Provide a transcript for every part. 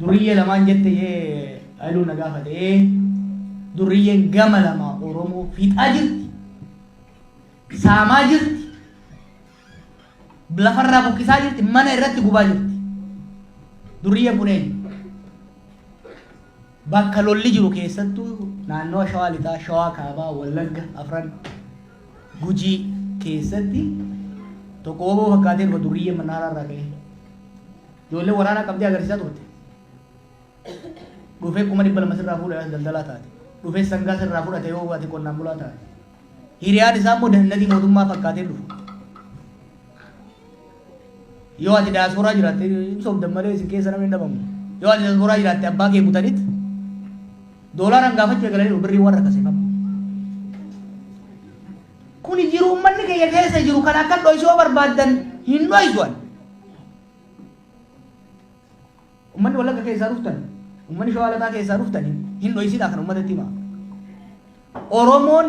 Durriyyee lamaan jette ishee Hailuu na gaafate. Ee durriyyeen gama lamaa Oromoo fixaa jirti. Saamaa jirti. Lafarraa buqqisaa jirti. Mana irratti gubaa jirti. Durriyyeen kun eenyu? Bakka lolli jiru keessattuu naannawa Shawaa Lixaa, Shawaa Kaabaa, Wallagga afran, Gujii keessatti tokko wbo fakkaatee dhufa durriyyeen Mannaaraa irraa ka'ee. Ijoolleen waraanaa qabdee agarsiisaa turte. Dhufee kuma dhibba lama sirraa fuudha yoo daldalaa taate. Dhufee sangaa sirraa fudhate yoo ati qonnaan bulaa taate. Hiriyaan isaa immoo dandatii mootummaa fakkaatee dhufa. Yoo ati diaspora jiraatte hin sobdan malee isin keessa namni hin dhabamu. Yoo ati diaspora jiraatte abbaa kee butanit doolaaraan gaafachuu eegalaniiru birriin waan rakkasee qabu. Kuni jiru ummanni keenya keessa jiru kan akka dho'isu yoo barbaaddan hin dho'isu ani. Ummanni wallagga keessaa dhuftan ummanni shawaa lataa keessaa dhuftan hin dho'isinaa kan ummatatti himaa. Oromoon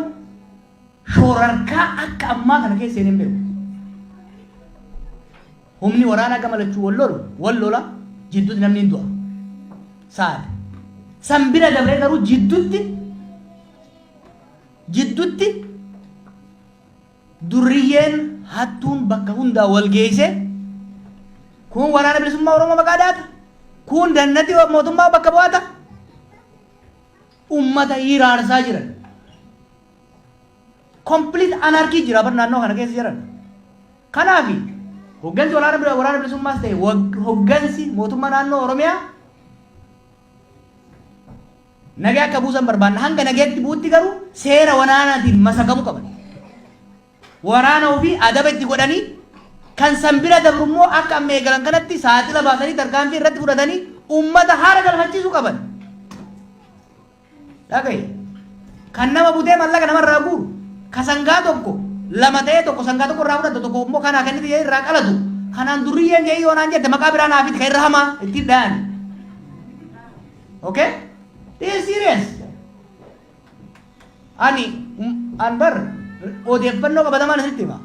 Shoorarkaa akka ammaa kana keessa seenee hin beeku. Humni waraanaa gama lachuu wal lolu, wal lola, jidduutti namni hin du'a. Saad. San bira dabree garuu jidduutti jidduutti durriyyeen hattuun bakka hundaa wal geessee kun waraana bilisummaa Oromoo maqaa daata, kun dannati mootummaa bakka bu'aata. ummata hiraarsaa jiran. Complete anarchy jira bar naannoo kana keessa jiran. Kanaaf hoggansi waraana bira- waraana bilisummaas ta'e wag- hoggansi mootummaa naannoo Oromiyaa nagaa akka buusan barbaanna. Hanga nagaatti buutti garuu seera waraanaatiin masakamuu qaban. waraana ofii adaba itti godhanii kan san bira dabru immoo akka amma eegalan kanatti saaxila baasanii tarkaanfii irratti fudhatanii ummata haara galfachiisuu qaban. Dhagaye. Kan nama butee mallaqa namarraa guuru. Ka sangaa tokko lama ta'ee tokko sangaa tokko irraa fudhatu tokko immoo kanaa kennite jedhee irraa qalatu. Kanaan durriyyeen jedhee yoo naan jette maqaa biraa naaf itti kan irra hamaa ittiin dha'ani. Okay? This is serious. Ani an bar odeeffannoo qabatamaan isinitti hima.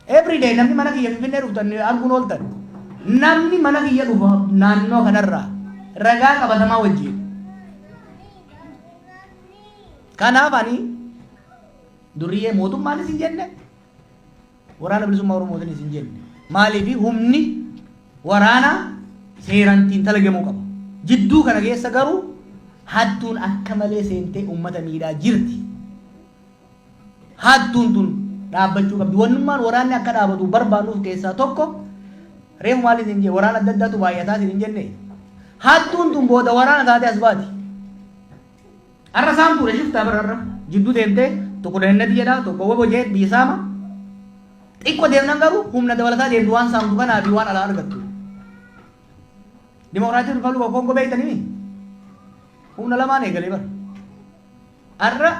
Every day namni mana kiyya Finfinnee dhuftan arguun ooltan namni mana kiyya dhufu naannoo kanarraa ragaa qabatamaa wajjin. Kanaaf ani duriyee mootummaanis hin jenne Waraana Bilisummaa Oromootiin isin jenne. Maaliif humni waraanaa seeraan xiinxalagamuu qaba. Jidduu kana keessa garuu hattuun akka malee seentee uummata miidhaa jirti. Hattuun tun dhaabbachuu qabdi. Wannummaan waraanni akka dhaabatu barbaannuuf keessaa tokko reefu maal isin jee waraana adda addaatu baay'ataa isin hin jenne. Hattuun tun booda waraana taatee as baati. Arra saan fuudhe shiftaa bar arra jiddu deemte tokko dahinnati jedha tokko wabo jeet biyya saama xiqqo deemnan garuu humna dabalataa deemtu waan saamtu kanaa fi waan alaa argattu dimokiraatii ripablika of kongo beeytanimi humna lamaan eegalee bar arra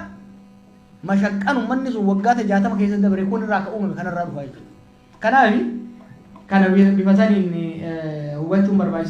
mashaqqan ummanni sun waggaata jaatama keessa dabre kun irraa akka uumame kanarraa dhufaa jechuudha kanaaf kana bifa saniin hubachuun barbaachisa